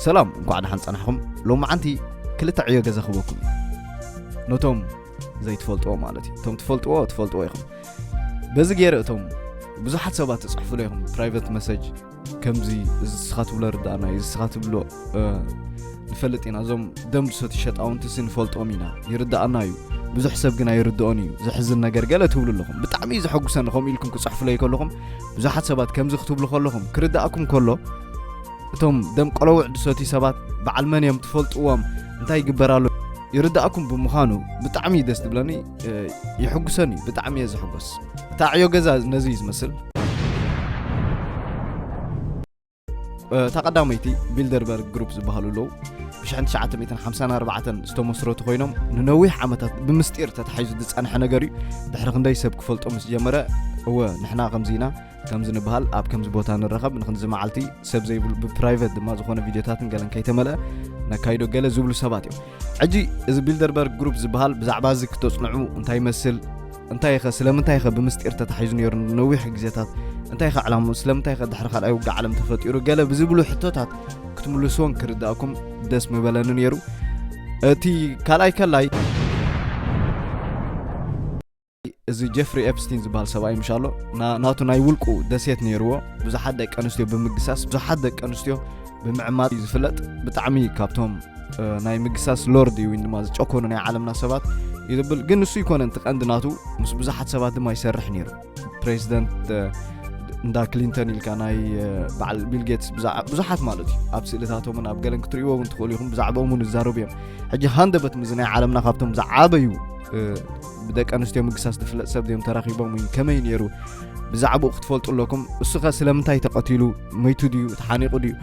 ሰላም እንኳዕ ደሓን ጸናሕኹም ሎማዓንቲ ክልተ ዕዮ ገዛ ክበኩም ነቶም ዘይትፈልጥዎ ማለት እዩ እቶም ትፈልጥዎ ትፈልጥዎ ኢኹም በዚ ገይረ እቶም ብዙሓት ሰባት ትፅሕፍሉ ኢኹም ፕራይቨት መሰጅ ከምዚ እዚ ስኻ ትብሎ ርዳእና እዩ ስኻ ትብሎ ንፈልጥ ኢና እዞም ደም ዝሰት ሸጣውንቲ ሲ ንፈልጦም ኢና ይርዳእና እዩ ብዙሕ ሰብ ግን ኣይርድኦን እዩ ዘሕዝን ነገር ገለ ትብሉ ኣለኹም ብጣዕሚ እዩ ዘሐጉሰኒ ከምኡ ኢልኩም ክፅሕፍለይ ከለኹም ብዙሓት ሰባት ከምዚ ክትብሉ ከለኹም ክርዳእኩም ከሎ እቶም ደም ቆለውዕ ድሰትዩ ሰባት በዓል መን እዮም ትፈልጥዎም እንታይ ይግበራሉ ይርዳእኩም ብምዃኑ ብጣዕሚ እዩ ደስ ትብለኒ ይሕጉሰኒ ብጣዕሚ እየ ዝሕጎስ እታ ዕዮ ገዛ ነዚ እዩ ዝመስል እታ ቀዳመይቲ ቢልደርበርግ ግሩፕ ዝበሃሉ ኣለዉ ብ1954 ዝተመስረቱ ኮይኖም ንነዊሕ ዓመታት ብምስጢር ተታሒዙ ዝፀንሐ ነገር እዩ ድሕሪ ክንደይ ሰብ ክፈልጦ ምስ ጀመረ እወ ንሕና ከምዚ ኢና ከምዚ ንበሃል ኣብ ከምዚ ቦታ ንረኸብ ንክንዚ መዓልቲ ሰብ ዘይብሉ ብፕራይቨት ድማ ዝኾነ ቪድዮታትን ገለን ከይተመልአ ነካይዶ ገለ ዝብሉ ሰባት እዮም ሕጂ እዚ ቢልደርበርግ ግሩፕ ዝበሃል ብዛዕባ እዚ ክተፅንዑ እንታይ ይመስል እንታይ ኸ ስለምንታይ ኸ ብምስጢር ተታሒዙ ነይሩ ነዊሕ ግዜታት እንታይ ኸ ዕላሙ ስለምንታይ ኸ ድሕሪ ካልኣይ ውግእ ዓለም ተፈጢሩ ገለ ብዝብሉ ሕቶታት ክትምልስዎን ክርዳእኩም ደስ ምበለኒ ነይሩ እቲ ካልኣይ ከላይ እዚ ጀፍሪ ኤፕስቲን ዝበሃል ሰብኣይ ምሻሎ ናቱ ናይ ውልቁ ደሴት ነይርዎ ብዙሓት ደቂ ኣንስትዮ ብምግሳስ ብዙሓት ደቂ ኣንስትዮ ብምዕማት እዩ ዝፍለጥ ብጣዕሚ ካብቶም ናይ ምግሳስ ሎርድ እዩ ድማ ዝጨኮኑ ናይ ዓለምና ሰባት እዩ ዝብል ግን ንሱ ይኮነን እቲ ቀንዲ ናቱ ምስ ብዙሓት ሰባት ድማ ይሰርሕ ነይሩ ፕሬዚደንት እንዳ ክሊንተን ኢልካ ናይ በዓል ቢል ጌትስ ብዙሓት ማለት እዩ ኣብ ስእልታቶምን ኣብ ገለን ክትርእይዎ እውን ትኽእሉ ኢኹም ብዛዕባኦም እውን ይዛረቡ እዮም ሕጂ ሃንደበት ምዚ ናይ ዓለምና ካብቶም ዝዓበዩ ብደቂ ኣንስትዮ ምግሳስ ዝፍለጥ ሰብ ድዮም ተራኺቦም እዩ ከመይ ነይሩ ብዛዕባኡ ክትፈልጡ ኣለኩም እሱኸ ስለምንታይ ተቐቲሉ መይቱ ድዩ ተሓኒቑ ድዩ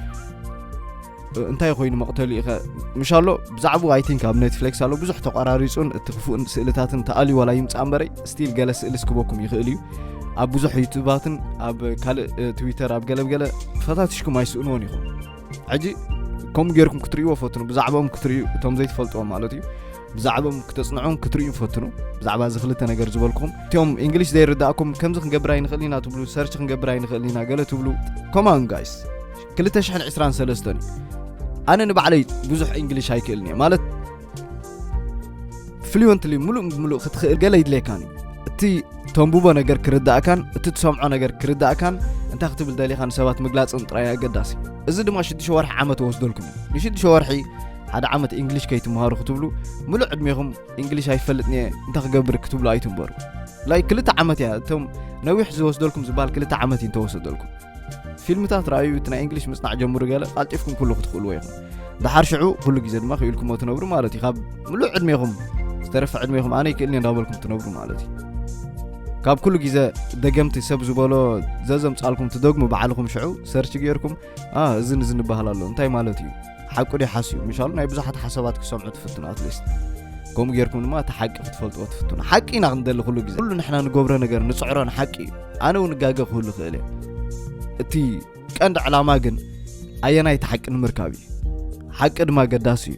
እንታይ ኮይኑ መቕተሉ ኢኸ ምሽ ኣሎ ብዛዕባኡ ኣይ ቲንክ ኣብ ኔትፍሌክስ ኣሎ ብዙሕ ተቋራሪፁን እቲ ክፉእን ስእልታትን ተኣልዩ ዋላ ይምፃእ እምበረይ ስቲል ገለ ስእሊ ስክበኩም ይኽእል እዩ ኣብ ብዙሕ ዩቱባትን ኣብ ካልእ ትዊተር ኣብ ገለብገለ ፈታትሽኩም ኣይስእንዎን ኢኹም ሕጂ ከምኡ ጌርኩም ክትርእይዎ ፈትኑ ብዛዕባኦም ክትርእዩ እቶም ዘይትፈልጥዎም ማለት እዩ ብዛዕብም ክተጽንዑን ክትርእዩን ፈትኑ ብዛዕባ እዚ ክልተ ነገር ዝበልኩም እትም እንግሊሽ ዘይርዳእኩም ከምዚ ክንገብር ኣይንኽእል ኢና ትብሉ ሰርች ክንገብር ኣይንኽእል ኢና ገለ ትብሉ ኮማን ጋይስ 223 እዩ ኣነ ንባዕለይ ብዙሕ እንግሊሽ ኣይክእልን እየ ማለት ፍሉንትሊ ሙሉእ ብምሉእ ክትኽእል ገለ ይድለየካን እዩ እቲ ተንብቦ ነገር ክርዳእካን እቲ ትሰምዖ ነገር ክርዳእካን እንታይ ክትብል ደሊኻ ንሰባት ምግላፅን ጥራይ ኣገዳሲ እዚ ድማ ሽዱሽተ ወርሒ ዓመት ወስደልኩም እዩ ንሽዱሽተ ወርሒ ሓደ ዓመት እንግሊሽ ከይትምሃሩ ክትብሉ ምሉእ ዕድሜኹም እንግሊሽ ኣይፈልጥን እየ እንታይ ክገብር ክትብሉ ኣይትንበሩ ላይ ክልተ ዓመት እያ እቶም ነዊሕ ዝወስደልኩም ዝበሃል ክልተ ዓመት እዩ እንተወሰደልኩም ፊልምታት ረኣዩ እቲ ናይ እንግሊሽ ምፅናዕ ጀምሩ ገለ ቃልጢፍኩም ኩሉ ክትኽእልዎ ኢኹም ድሓር ሽዑ ኩሉ ግዜ ድማ ክኢልኩሞ ትነብሩ ማለት እዩ ካብ ምሉእ ዕድሜኹም ዝተረፈ ዕድሜኹም ኣነ ይክእልኒ እንዳበልኩም ትነብሩ ማለት እዩ ካብ ኩሉ ግዜ ደገምቲ ሰብ ዝበሎ ዘዘምፃልኩም ትደግሙ ባዕልኹም ሽዑ ሰርች ገይርኩም እዚ ንዝንበሃል ኣሎ እንታይ ማለት እዩ ሓቁ ድዩ ሓስዩ ምሻሉ ናይ ብዙሓት ሓሳባት ክሰምዑ ትፍትኑ ኣትሊስት ከምኡ ጌርኩም ድማ እቲ ሓቂ ክትፈልጥዎ ትፍትኑ ሓቂ ኢና ክንደሊ ኩሉ ግዜ ኩሉ ንሕና ንገብሮ ነገር ንፅዕሮ ንሓቂ እዩ ኣነ እውን ጋገ ክህሉ ክእል እየ እቲ ቀንዲ ዕላማ ግን ኣየናይ እቲ ሓቂ ንምርካብ እዩ ሓቂ ድማ ገዳሲ እዩ